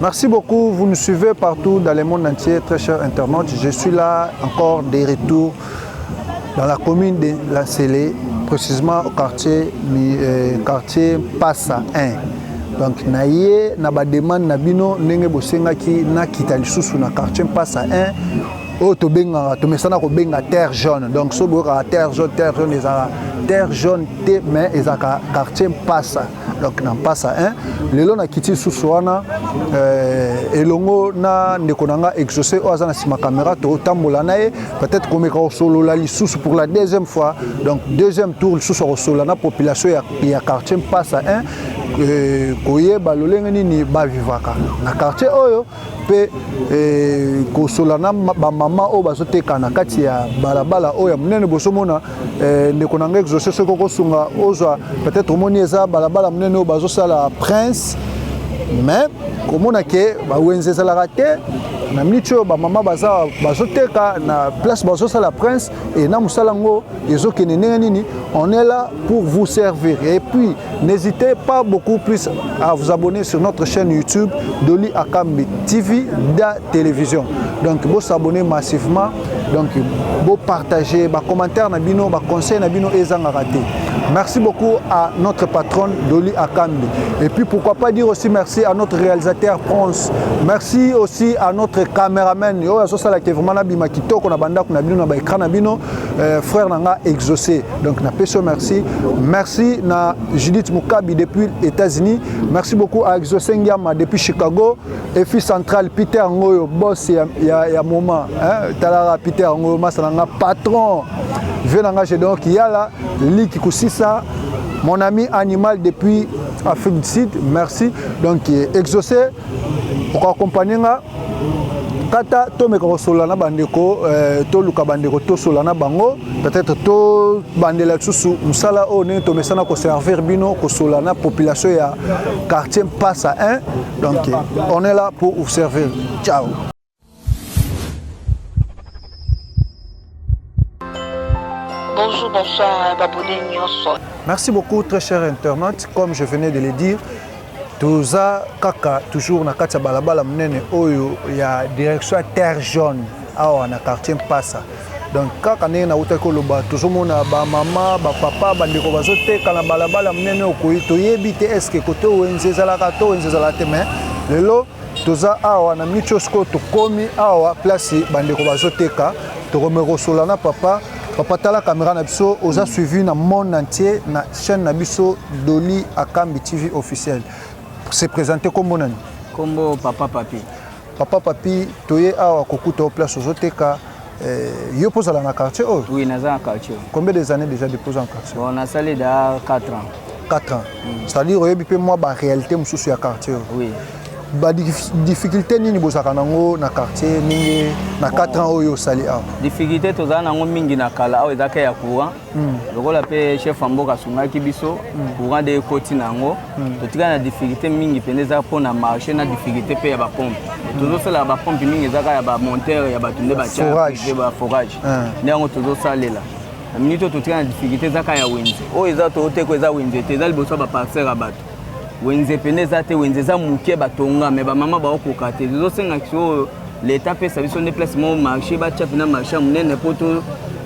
Merci beaucoup, vous nous suivez partout dans le monde entier, très chers internautes. Je suis là encore des retours dans la commune de La Célé, précisément au quartier, euh, quartier Passa 1. Donc na ye na ba demande na bino ndenge bosengaki nakita lisusu na quartier Passa 1 oyo tobengaka tomesana kobenga terre jaune donc so boyokaka terre jaune terre jaune ezalaka terre jaune te mais ezalaka quartier Passa donc na mpasa 1 lelo nakiti lisusu wana euh, elongo na ndeko na nga exauce oyo aza na nsima kamera totambola na ye peut-être komeka kosolola lisusu pour la deuxième fois donc deuxième tour lisusu akosolola na population ya, ya quartier mpasa 1 euh, koyeba lolenge nini bavivaka na quartier oyo mpe eh, kosola na bamama oyo bazoteka na kati ya balabala oyo ya monene bozomona eh, ndeko na ngai exauce soki okosunga ozwa peut-être omoni eza balabala monene oyo bazosala prince mais komona ke bawenze ezalaka te na miniti oyo bamama baza bazoteka na place bazosala prince Et na musalango ezo kende ndenge nini on est là pour vous servir et puis n'hésitez pas beaucoup plus à vous abonner sur notre chaîne YouTube Doli Akambi TV da télévision donc vous s'abonner massivement donc vous partager ba commentaires na bino ba conseils na bino ezanga raté Merci beaucoup à notre patronne Dolly Akambi. Et puis pourquoi pas dire aussi merci à notre réalisateur Prince Merci aussi à notre cameraman oyo azosala ke vraiment nabima kitoko na bandako na bino na baekran na bino euh, frère na nga exaucé donc napesi yo merci merci na Judith Mukabi depuis États-Unis merci beaucoup à exaucé Ngiama depuis Chicago efi central Peter Ngoyo boss ya, ya, ya moment hein? talaka Peter Ngoyo masa na nga patron vie na nga Gédéon Kiyala Liki Kusisa mon ami animal depuis Afrique du Sud, merci. Donc, euh, exaucé, pour accompagner kata tomeka kosolola na bandeko eh, toluka bandeko tosolola na bango peut-être tobandela lisusu mosala oyo ndenge tomesana koservir bino kosolola na population ya quartier mpasa 1 donc on est là pour vous servir ciao Bonjour, bonsoir, babone nyonso. Merci beaucoup, très cher internaute. Comme je venais de le dire, toza kaka toujours na kati ya balabala monene oyo ya direction ya terre jaune awa na quartier mpasa donc kaka ndenge nautaki koloba tozomona bamama bapapa bandeko bazoteka na balabala monene okoyi toyebi te eske kote wenze ezalaka to wenze ezalaka te mais lelo toza awa na micho sikoyo tokomi awa place bandeko bazoteka tokomeka kosola na papa papa tala kamera na biso oza mm. suivi na monde entier na chaîne na biso doli akambi tv officiel se présente kombo nani kombo papa papi papa papi toye awa kokuta o place ozoteka Eh, yo mpo ozala na quartier oyo oui naza na quartier combien des années déjà depuis oza na quartier bon nasali da 4 ans 4 ans mm. c'est-à-dire oyebi mpe mwa baréalité mosusu ya quartier oyo oui badifficulté nini bozalaka nango na quartier ndenge na 4 ans oyo osali awa difficulté tozala nango mingi na kala awa ezalaka ya courant mm. lokola mpe chef ya mboka asungaki biso mm. courant de ekoti na yango mm. totikali na difficulté mingi mpenza eza mpo na marché na difficulté mpe ya bapompe mm. tozosalaka bapompe mingi ezaka ya bamonteur ya bato nde batiae baforage ah. nde yango tozosalela na minute oyo totikali na difficulté ezaka ya wenze oyo eza tooteko eza wenze te eza liboso ya baparcere ya bato wenze mpenza eza te wenze eza moke batonga me bamama baokoka te tozosenga kiso oyo leta apesa biso nde place moko marché batya mpena marché ya monene mpo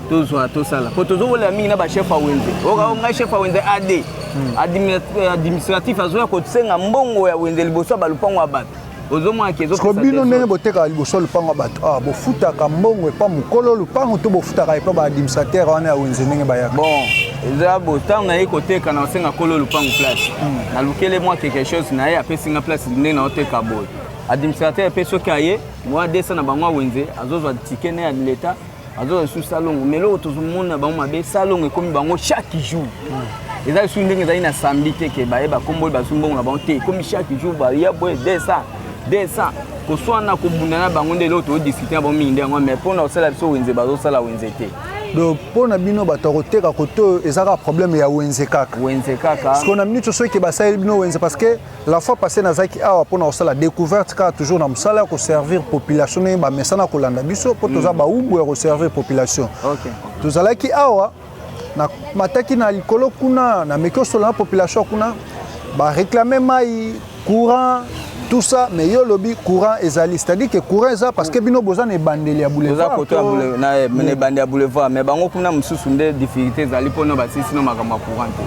tozwa tosala mpo tozokolela mingi na bachef ya wenze okaa ngai chef ya wenze ad hmm. euh, administratif azoya kosenga mbongo ya wenze liboso ya balupango ya bato ozomonakesoko bino ndenge botekaka liboso ya lupango ya bato awa ah, bofutaka mbongo epa mokolo lupango to bofutaka epa baadministrateur wana ya wenze ndenge bayaka bon eza bo ntango naye koteka na osenga kolo lupango place hmm. nalukele mwa quelque chose na ye apesi nga place ndenge naoteka boye Administrateur pe soki aye moya 200 na bango awenze azozwa ticket na ya leta azozwa lisusu salongo mais eloko tozomona bango mabe salongo ekomi bango chaque jour eza lisusu ndenge ezali na samedi te ke baye bakomboli bazwi mbongo na bango te ekomi chaque jour baya boye 200 200 koswana kobunda na bango nde eloko tozodiscute na bango mingi nde yango mais mpo na kosala biso wenze bazosala wenze te donc mpo na bino bato ya koteka kote oyo eza kaka problème ya wenze kaka wenze kaka sikoyo na minute oso eke basaleli bino wenze parce que La fois passée nazaki awa pona kosala découverte kaka toujours na mosala ya koservir population ndenge bamesana kolanda biso mpo toza mm. baumbu ya koservir population okay. tozalaki awa na mataki na likolo kuna na meki osolola na population kuna bareklame mai courant tout ça mais yo lobi courant ezali c'est-à-dire que courant eza parce que bino boza na ebandeli ya boulevard boza koto na ebandeli ya boulevard mais bango kuna mosusu nde difficulté ezali mpo na basisi no makambo ya courant te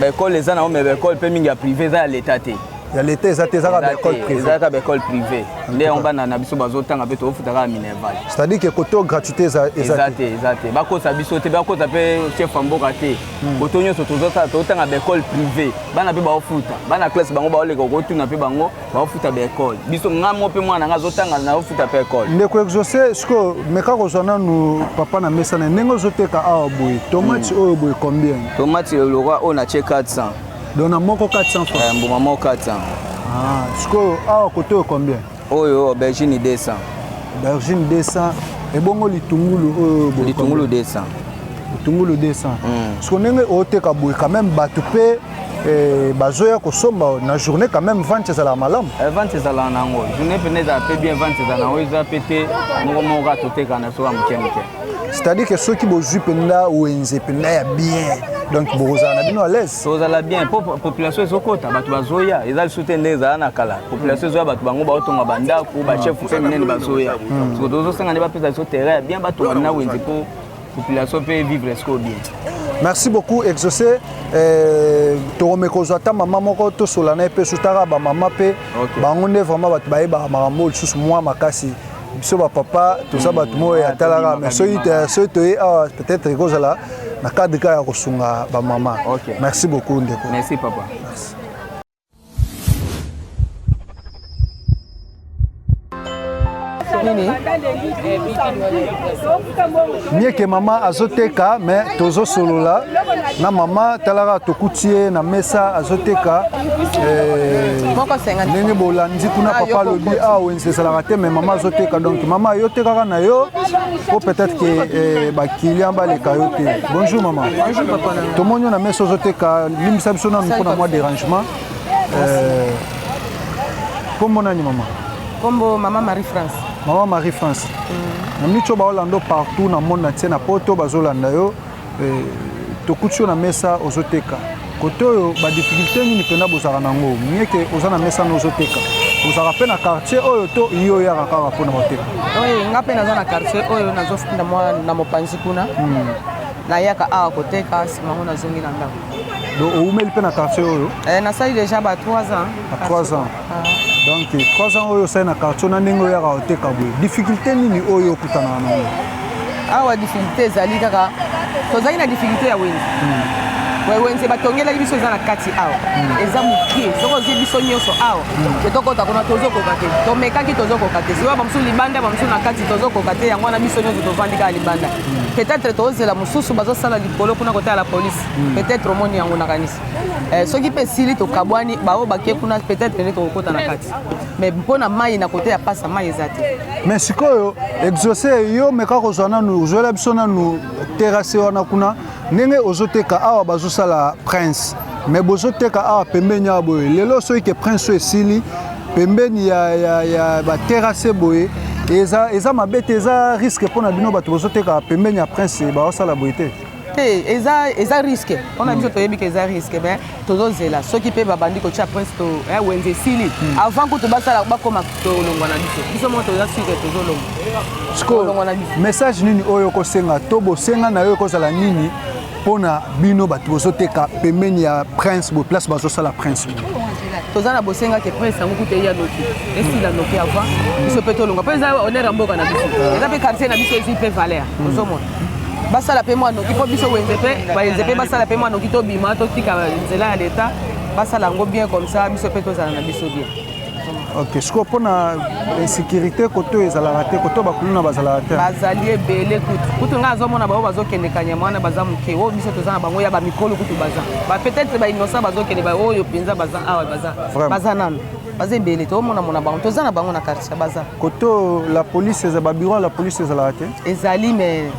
ba école eza nango mais ba école mpe mingi ya privé eza ya leta te ya leta eza te ezaka baecole privé eza kaka baecole privé nde yango bana na biso bazotanga mpe tokofuta kaka minerval c'est à dire que koto gratuité eza te eza te bakosa biso te bakosa mpe chef ya mboka te hmm. koto nyonso tozosala totanga baecole privé bana mpe baofuta bana classe bango baoleka okotuna mpe bango baofuta ba ecole biso nga mo mpe mwana nga azotanga naofuta mpe ecole ndeko exauce sikoyo meka kozwa nanu papa na mesa na ndenge ozoteka awa boye tomati hmm. oyo boye combien tomati lokwa oyo natie 400 donc na moko 400 francs eh, mbuma moko 400 ah, sikoyo awa kote oyo combien oyo aubergine 200 aubergine 200 ebongo litungulu oyo litungulu 200 litungulu 200 sikoyo ndenge oteka boye quand même bato mpe Eh, bazoya kosomba na journée quand même vente ezalaka malamu eh, vente ezalaka na yango journée mpena ezala mpe bien vente ezala na yango eza mpe te moko moko kaka toteka na soka moke moke c'est-à-dire que soki bozwi mpenza wenze mpenza ya bien donc bokozala na bino alaise tozala bien mpo population ezokota bato bazoya eza lisusu te nde ezala na kala population ezoya bato bango baotonga bandako bachef mpe minene bazoya hmm. soki tozosenga nde bapesa biso terrain ya bien batonga na wenze mpo population pe vivre sikoyo bien merci beaucoup exaucé eh, tokomi kozwa ata mama moko tosola na ye mpe sutaka bamama mpe okay. bango nde vraiment bato bayebaka makambo oyo lisusu mwa makasi biso bapapa toza mm. bato moyo atalaka mais soki soki toye awa peut-être ekozala na cadre kaka ya kosunga bamama okay. merci beaucoup ndeko merci papa merci. nini mieke mama azoteka me tozosolola na mama talaka tokuti ye na mesa azoteka eh, ndenge bolandi kuna ah, papa alobi awa ah, wenze ezalaka te me mama azoteka donc mama yo tekaka na yo po peut-être ke eh, bakilian baleka yo te bonjour mama tomoni yo na mesa ozoteka limbisa biso nanu mpo na mwa derangement euh, kombo nani mama kombo mama marie france mama marie france mm. na mico baolanda partout na monde na tie na poto bazolanda yo euh, tokuti yo na mesa ozoteka kote oyo badifficulté nini mpenza bozalaka na yango mieke oza na mesa na ozoteka ozalaka mpe na quartier oyo to yo oyaka kaka mpo na koteka nga mpe naza na quartier oyo nazofunda mwa na mopanzi kuna hmm. Nayaka awa koteka sima yango nazongi na ndako. Donc oumeli mpe na quartier oyo? Eh, nasali déjà ba 3 ans. Ba 3 ans. Ah. Donc 3 ans oyo osali na quartier na ndenge oyaka oteka boye. Difficulté nini oyo okutanaka na yango? Awa difficulté ezali kaka tozali na difficulté ya wenze. Hmm. wenze batongelaki biso eza na kati awa hmm. eza moke soki ozwi biso nyonso awa hmm. te tokota kuna tozokoka te tomekaki tozokoka te sikoyo bamosusu libanda bamosusu na kati tozokoka te yango wana biso nyonso tovandi kaka libanda peut-être tozela mosusu bazosala likolo kuna kotala la police hmm. peut-être omoni yango nakanisi eh, soki mpe esili tokabwani baoyo bake kuna peut-être pene tokokota na kati mais mpo na mai na kote ya pasa mai eza te mais sikoyo exauce yo meka kozwa nanu ozwela biso nanu terase wana kuna ndenge ozoteka awa bazosala prince me bozoteka awa pembeni awa boye lelo soki ke prince oyo esili pembeni ya, ya, ya baterase boye eza, eza mabe te eza riske mpo na bino bato bozoteka pembeni ya prince baosala boye te te eza, eza riske mpo na biso hmm. toyebi ke eza riske me tozozela soki mpe babandi kotya prince to eh, wenze esili hmm. avant kutu basala bakoma tolongwa na biso biso moko toza sike tozolongwa sikoyo message nini oyo okosenga to bosenga na yo ekozala nini mpo na bino bato bozoteka pembeni ya prince bo place bazosala prince toza na bosenga ke prince yango kuta eya noki esila noki avant biso mpe tolonga mpo eza honneur ya mboka na biso ah. eza mpe quartier na biso ezwi mpe valeur hmm. ozomona basala mpe mwa noki mpo biso wenze mpe bayenze mpe basala mpe mwa noki tobima totika nzela ya leta basala yango bien comme ça biso mpe tozala na biso bien ok sikoyo mpo na insécurité koto ezalaka te koto bakuluna bazalaka te bazali ebele kutu kutu ngai azomona bango bazokende kanyama wana baza moke oyo biso toza na bango ya bamikolo kutu baza ba peut-être bainosa bazokende baoyo mpenza baza awa baza baza nano baza ebele tomonamona bango toza na bango na quartier baza koto la police eza babiro ya la police ezalaka te ezali mais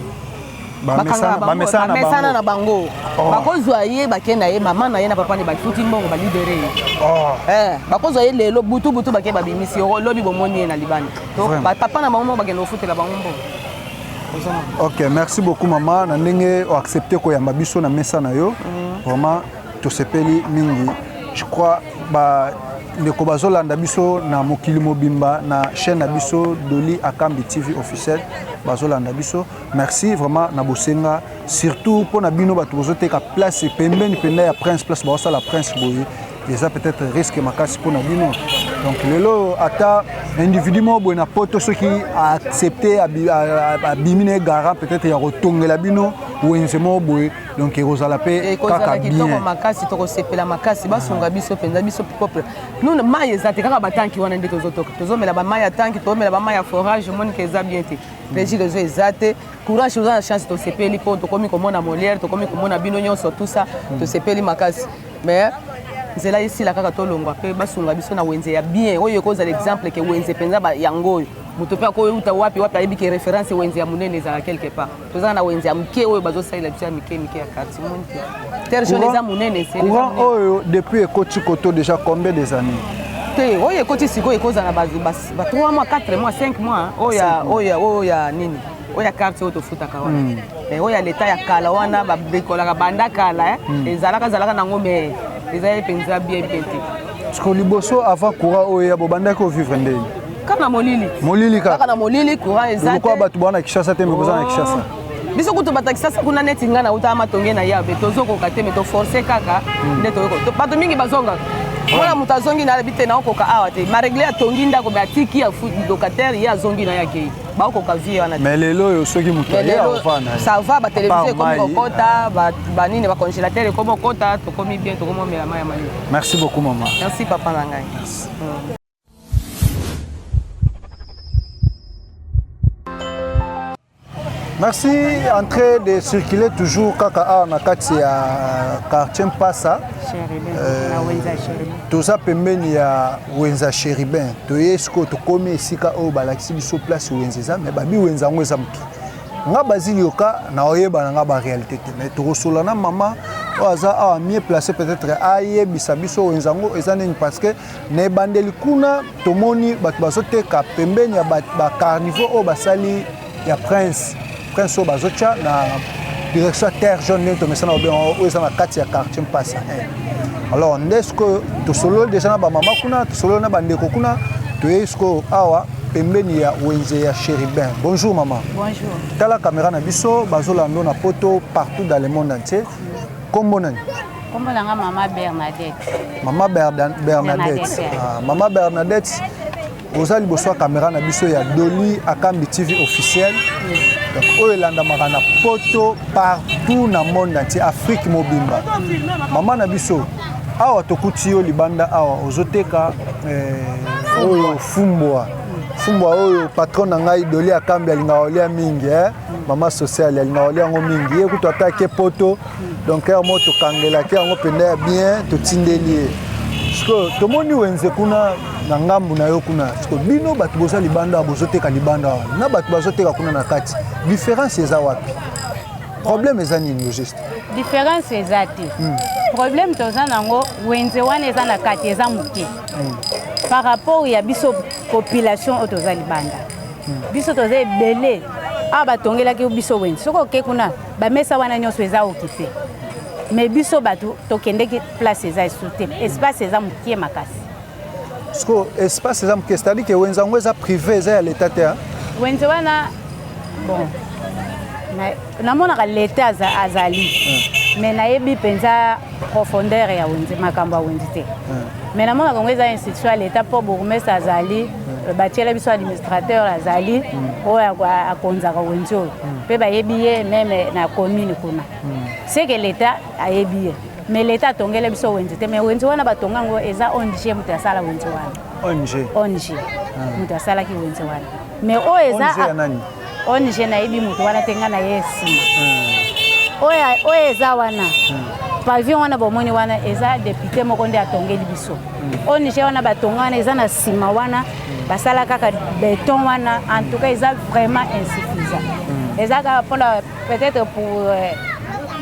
bamesana na bango oh. bakozwa ye bake na ye mama na ye na papa ne bafuti mbongo balibere ye oh. eh, bakozwa ye lelo butu butu bake babimisi yo lobi bomoni ye na libanda to papa na bango moko bakende kofutela bango mbongo ok merci beaucoup mama na ndenge oaccepte koyamba biso na mesa na yo mm. vraiment tosepeli mingi je crois ba ndeko bazolanda biso na mokili mobimba na chaîne na biso doli akambi tv officiel bazolanda biso Merci vraiment na bosenga surtout mpo na bino bato bozoteka place pembeni mpenza ya prince place baosala prince boye eza peut-être risque makasi mpo na bino donc lelo ata individu moko boye na poto soki aaccepte abimi na ye garant peut-être ya kotongela bino wenze moko boye donc ekozala mpe kaka kitoko makasi tokosepela makasi basunga biso mpenza biso peuple nuna mai eza te kaka batanki wana nde tozotoka tozomela bamai ya tanki tozomela bamai ya forage omonike eza bien te plaisir ozo eza te courage oza na chance tosepeli mpo tokomi komona molière tokomi komona bino nyonso tout ça hmm. tosepeli makasi mais nzela esila kaka tolongwa mpe basunga biso na wenze ya bien oyo ekozala exemple ke wenze mpenza yango oyo moto mpe akoyeuta wapi wapi ayebi ke référence wenze ya monene ezala quelque part tozala na wenze ya moke oyo bazosalela biso ya mike mike ya quartier moni te terre jaune eza monene courant oyo depuis ekoti koto déjà combien des années te oyo ekoti sikoyo ekozala ba 3 mois 4 mois 5 mois oya oya oya nini oya carte oyo tofutaka wana hmm. eh, oya leta ya kala wana babrikolaka banda kala eh. hmm. ezalaka ezalaka nango me ezalaki mpenza bien bien te siko liboso avant courant oyo ya bobandaki ovivre ndeni kaka na molili molili kaka na molili courant ezalokwa bato bwana kishasa te mikoza na oh. kishasa biso kutu bato ya kisasa kuna neti ngai nautaka matonge na yabe tozokoka te me toforce kaka hmm. nde toyoko bato mingi bazongaka mwana moto azongi na alobi te naokoka awa te maregle atongi ndako me atiki ya locataire ye azongi na ye akei baokoka vie wana mais lelo oyo soki moto aye aofana ça va batelevizio ekomi kokota banini bacongélateur ekomi kokota tokomi bien tokomi omela mai ya mayo merci beaucoup mama merci papa na ngai merci entrée de circuler toujours kaka awa na kati ya euh, quartier mpasa euh, toza pembeni ya wenza chéribin toye sikoyo tokomi esika oyo balakisi biso place wenza eza mais babi wenza yango eza moke nga bazili yoka naoyebana nga baréalité te mais tokosola na mama oyo aza awa mieux placé peut-être ayebisa biso wenza yango eza nini parce que Na ebandeli kuna tomoni bato bazoteka pembeni ya bacarnivaux oyo basali ya prince prince oyo bazotya na direction ya terre jaune ndenge tomesana obe oyo eza na kati ya quartier mpasa 1 alors nde sikoyo tosololi deja na bamama kuna tosololi na bandeko kuna toyei sikoyo awa pembeni ya wenze ya chéribin bonjour maman bonjour tala caméra na biso bazolando na poto partout dans le monde entier kombo nani Kombo na nga mama Bernadette. Mama Berda, Bernadette. Bernadette. Ah, mama Bernadette oza liboso ya kamera na biso ya Doli Akambi TV officiel. Donc oyo elandamaka na poto partout na monde entier Afrique mobimba. Mama na biso awa tokuti yo libanda awa ozoteka eh, oyo fumbwa fumbwa oyo patron na ngai Doli Akambi alingaka olia mingi eh? mama sociale alingaka olia yango mingi ye kutu ata ake poto donc heure moko tokangelaki yango mpenza ya bien totindeli ye sikoyo tomoni wenze kuna na ngambu na yo kuna sikoyo bino bato boza libanda awa bozoteka libanda awa na bato bazoteka kuna na kati différence eza wapi problème eza nini yo juste différence eza te hmm. problème toza nango wenze wana eza na kati eza moke hmm. par rapport ya biso population oyo toza libanda hmm. biso toza ebele awa batongelaki biso wenze soki oke kuna Ba mesa wana nyoso eza occupe. Mais biso bato tokendeki place eza esu te. Espace eza mokie makasi. Siko espace eza mokie, c'est-à-dire que wenze yango eza privé, eza ya l'etat te. Wenze wana bon namonaka leta azali hmm. mais nayebi mpenza profondeur ya wenze makambo ya wenze te hmm. mais namonaka yango eza institution ya leta mpo bourgmestre azali batiela biso administrateur azali hmm. oyo akonzaka wenzi oyo mpe hmm. bayebi ye meme na commune kuna hmm. seke leta ayebi ye mais leta atongela biso wenzi te mais wenzi wana batonga yango eza ong moto asala wenzi wana ong moto asalaki wenzi wana mais oyo eza ong nayebi moto wana te ngai naye nsima hmm. oyo eza wana hmm. pavillon wana bomoni wana eza depute moko nde atongeli biso hmm. ong wana batonga wana eza na nsima wana basala kaka beton wana en tout cas eza vraiment insuffisant eza kaka mpona peut-être pour euh,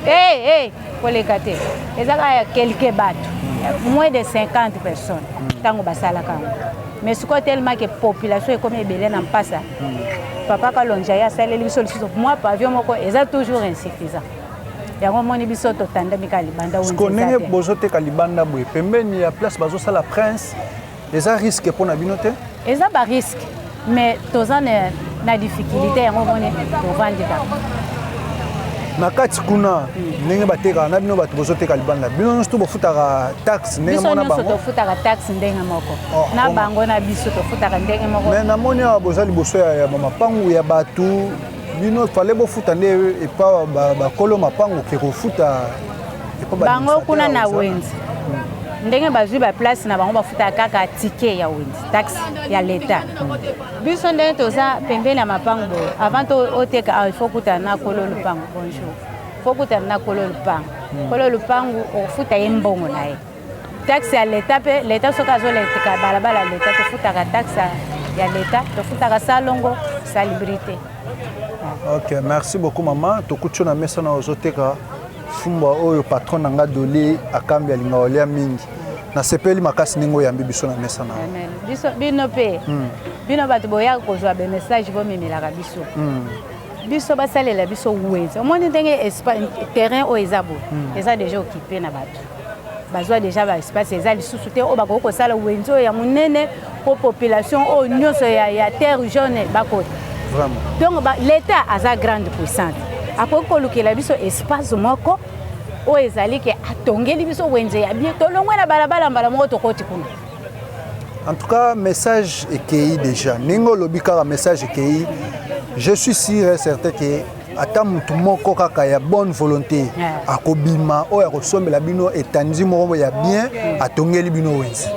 hey, hey, koleka te eza kaka ya quelque bato moins de 50 personnes ntango basalaka yango mais sikoyo tellement ke population ekomi ebele na mpasa papa kalonja ye asaleli biso lisusu mwa pavio moko eza toujours insuffisant yango omoni biso totandami kaka libanda ko ndenge bozoteka libanda boye pembeni ya place bazosala prince eza risque mpo na bino te eza barisque mais toza na difficulté yango omoni tovandi kaka na kati kuna ndenge batekaka na bino bato bozoteka libanda bino nyonso to bofutaka taxe ndenge mona bango tofutaka taxe ndenge moko oh, na oh, bango na biso tofutaka ndenge moko mais namoni awa boza liboso ya mapangu ya bato bino fale bofuta nde epa bakolo mapangu ke kofuta bango kuna na wenze hmm. ndenge bazwi baplace na bango bafutaka kaka tike ya wenze taxe ya leta hmm. biso ndenge toza pembeni ya mapangu boye avant oteka awa ah, ifo kutana na kolo lupangu bonjour fo kutana na kolo lupangu hmm. kolo lupangu ofuta ye mbongo na ye taxe ya leta mpe leta soki azoleka balabala ya leta tofutaka taxe ya leta tofutaka salongo salibrité ok merci beaucoup mama tokuti yo na mesa na ozoteka fumbwa oyo patron na nga doli akambi alinga olia mingi nasepeli makasi ndenge oyambi biso na mesa na biso bino mpe hmm. bino bato boyaka kozwa bamessage bomemelaka biso hmm. biso basalela biso wenze omoni ndenge terrain oyo eza boye hmm. eza deja okipe na bato bazwa deja ba espace eza lisusu te oyo bakoki kosala wenze oyo ya monene mpo population oyo nyonso ya, ya terre jaune bakota donc ba, l'état aza grande puissante akoki kolukela biso espace moko oyo ezali ke atongeli biso wenze ya bien tolongwe na balabala mbala moko tokoti kuna en tout cas message ekei déjà ndenge olobi kaka message ekei je suis sûr et certain ke ata motu moko kaka ya bonne volonté akobima oyo akosombela bino etandi moko ya bien mm. atongeli bino wenze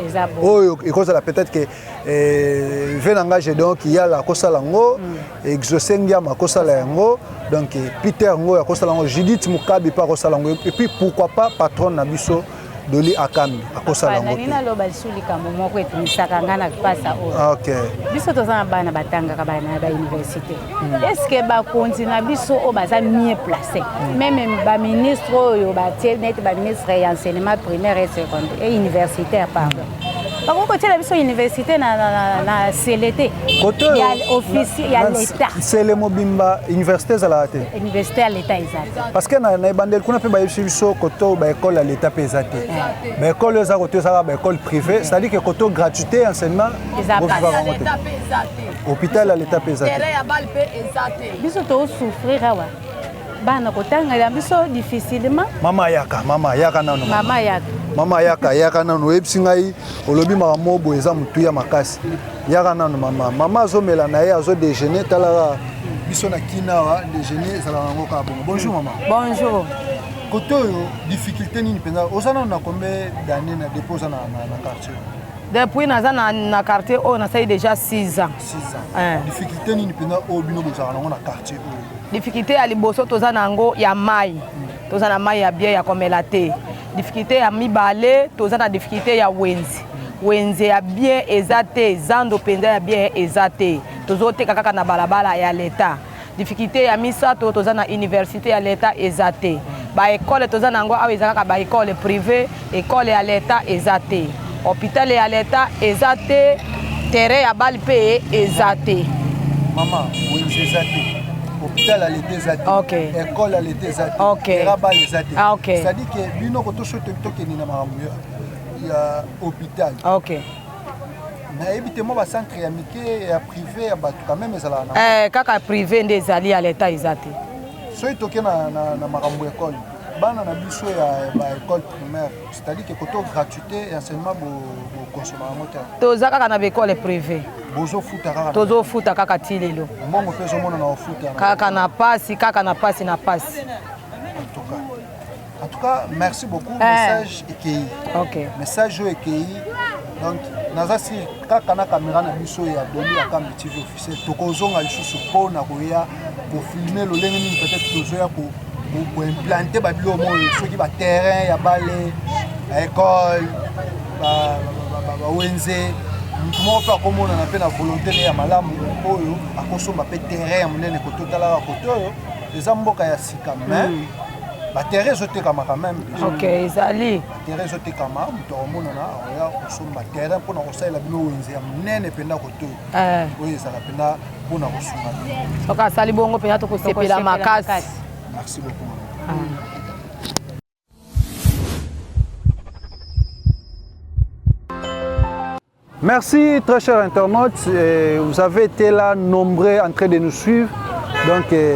oyo ekozala peut-être ke eh, ve na ngai gedon kiyala akosala yango mm. exauce ngiama akosala yango donc eh, peter ngoyo akosala yango judith mokabi mpe akosala yango epuis pourquoi pas patronne na biso Doli Akambi akosala yango. Nani naloba lisusu likambo moko etumisaka ngai na mpasa oyo. Ah, ok. Biso toza na bana batangaka bana na bauniversité. Hmm. Est-ce que bakonzi na biso oyo baza mieux placé hmm. meme baministre oyo batie neti baministre ya enseignement primaire et secondaire et universitaire pardon bakoki kotyela biso université na, na, na, na sele te kote ya office ya leta sele mobimba université ezalaka te université ya leta eza te parce que na, na ebandeli kuna mpe bayebisi biso koto baekole ya leta mpe eza te baekole eza koto ezaka baekole privé c'est à dire que koto gratuité ya enseignement bovivaka yango te hôpital ya leta mpe eza te biso tosouffrir awa bana kotangela biso difficilement mama ayaka mama ayaka nano mama ayaka mama ayaka ayaka nano oyebisi ngai olobi makambo moko boye eza motuya makasi yaka nano mama mama azomela na ye azo déjeuner talaka biso na kina awa déjeuner ezalaka yango kaka bongo bonjour mama bonjour kote oyo difficulté nini mpenza oza nano na combien d'année na dépôt oza na quartier depuis naza na quartier oyo nasali déjà 6 ans difficulté nini mpenza oyo bino bozalaka nango na quartier oyo difficulté ya liboso toza na yango ya mai hmm. toza na mai ya bien ya komela te difficulté ya mibale toza na difficulté ya wenze hmm. wenze ya bien eza te zando mpenza ya bien eza te tozoteka kaka na balabala ya leta Difficulté ya misato toza na université ya l'etat eza te. Ba école toza na yango awa eza kaka ba école privée, école ya l'etat eza te. Hôpital ya l'etat eza te, terrain ya balle mpe eza te. Maman, wenze eza te. hôpital aleta eza te okay. école aleta eza te okay. terrain bal eza te ah, okay. c'est-à-dire que bino kotoso tokende na makambo ya hôpital okay. nayebi te mwa bacentre ya mike ya prive ya bato quand même ezalaka na eh, kaka prive nde ezali ya leta eza te soki toke na, na, na makambo ya ekole bana na biso ya baekole primaire c'est-à-dire ke koto gratuité ya enseignement bokonsoma yango te toza kaka na baekole prive bozofuta kaka tozofuta kaka ti lelo mbongo mpe ezomonana ofuta kaka na pasi kaka na pasi na pasi En tout cas, merci beaucoup. Eh. Message ekei. Ok. Message oyo ekei. Donc, naza si kaka na kamera na biso ya Boni ya Kambi TV officiel tokozonga lisusu mpo na koya kofilme lolenge nini peut-être tozoya koimplante babilo moyo soki baterrain ya bale baekole bawenze ba, ba, ba, ba, moto moko mpe akomonana mpe na volonté ne ya malamu oyo akosomba mpe terrain ya monene kototalaka kote oyo eza mboka ya sika mais mm. batere ezotekama quand même ok ezali batere ezotekama moto akomonana akoya kosomba terrain mpona kosalela bino wenze ya monene mpenza koto eh. oyo ezala mpenza mpona kosunga bino soki asali bongo mpenza tokosepela makasi merci beaucoup ah. Merci très chers internautes, et vous avez été là nombreux en train de nous suivre. Donc et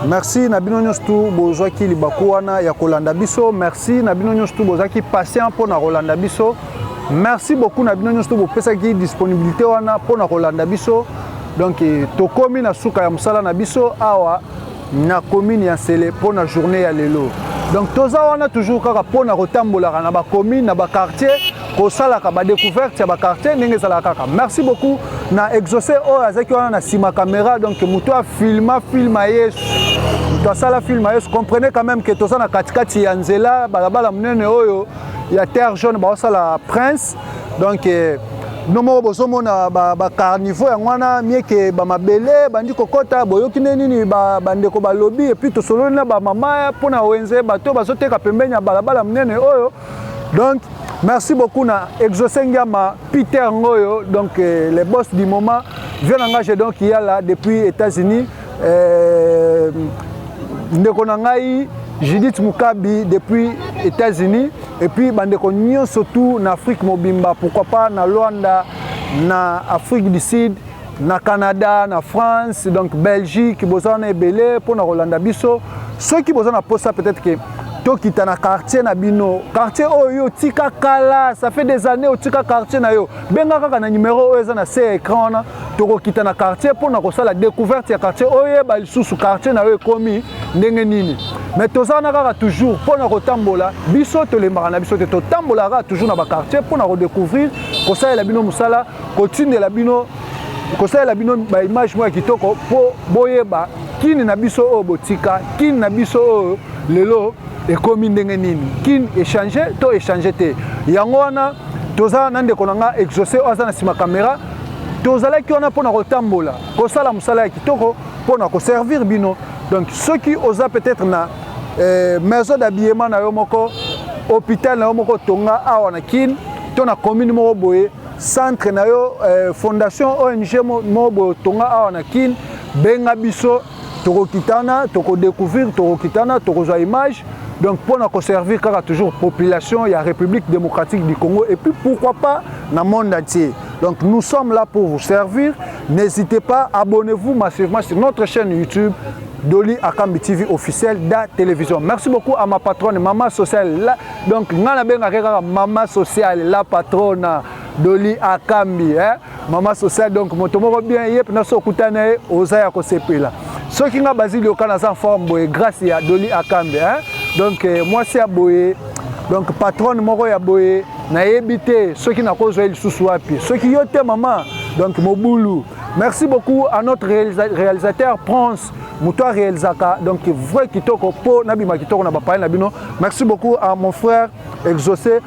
merci na bino nyonso tu bozwaki libaku wana ya kolanda biso. Merci na bino nyonso tu bozaki patient mpo na kolanda biso. Merci beaucoup na bino nyonso tu bopesaki disponibilité wana mpo na kolanda biso. Donc tokomi na suka ya mosala na biso awa na commune ya Nsele mpo na journée ya lelo. Donc toza wana toujours kaka mpo na kotambolaka na ba commune na ba quartier kosalaka ba découverte ya ba quartier ndenge ezalaka kaka. Merci beaucoup na exaucé oyo azalaki wana na nsima caméra donc moto ya filma filma yesu moto asala filma yesu comprenez quand même que toza na katikati ya nzela balabala monene oyo ya terre jaune baosala prince donc eh, bino moko bozomona bacarniveau ba yango wana mieke bamabele bandi kokɔta boyoki nde nini bandeko ba balobi epuis tosololi na bamama mpo na wenze bato bazoteka pembeni ya balabala monene oyo donc merci beaucoup na exauce ngiama peter ngoyo donc eh, le boss du moment vie na ngai je donc yala depuis états-unis Euh, ndeko na ngai Judith Mukabi depuis États-Unis et puis bandeko nyonso tout na Afrique mobimba pourquoi pas na Luanda na Afrique du Sud na Canada na France donc Belgique boza na ebele mpo na kolanda biso soki boza na posa peut-être que tokita na quartier na bino quartier oyo otika kala ça fait des années otika quartier na yo benga kaka na numero oyo eza na se écran wana tokokita na quartier mpo na kosala découverte ya quartier oyeba lisusu quartier na yo ekomi ndenge nini mais toza wana kaka toujours mpo na kotambola biso tolembaka na biso te totambolaka kaka toujours na baquartier mpo na kodecouvrir kosalela bino mosala kotindela bino kosalela bino baimage moko ya kitoko mpo boyeba kini na biso oyo botika kini na biso oyo lelo ekomi ndenge nini kini echange to echange te yango wana toza na ndeko na nga exauce oyo aza na nsima kamera tozalaki wana mpo na kotambola kosala mosala ya kitoko mpo na koservir bino donc soki oza peut-être na eh, maison d'habillement na yo moko hôpital na yo moko tonga awa na kin to na commune moko boye centre na yo eh, fondation ong moko boye tonga awa na kin benga biso tokokitana toko découvrir tokokitana tokozwa image donc mpo na koservir kaka toujours population ya république démocratique du congo et puis pourquoi pas na monde entier donc nous sommes là pour vous servir n'hésitez pas abonnez-vous massivement sur notre chaîne youtube Doli Akambi TV officiel da télévision. Merci beaucoup à ma patronne, Maman Sociale. La... Donc, Nana Benga Mama Sociale, la patronne Doli Akambi. Hein? mama social donc moto moko bien ye mpena so okuta na ye oza ya kosepela soki nga bazili oka naza forme boye grâce ya doli akambe hein? donc eh, mwasi ya boye donc patronne moko ya boye nayebi te soki nakozwa ye lisusu wapi soki yo te mama donc mobulu merci beaucoup à notre réalisateur prince moto arealisaka donc vrai kitoko mpo nabima kitoko na bapaya na bino merci beaucoup à mon frère exaucé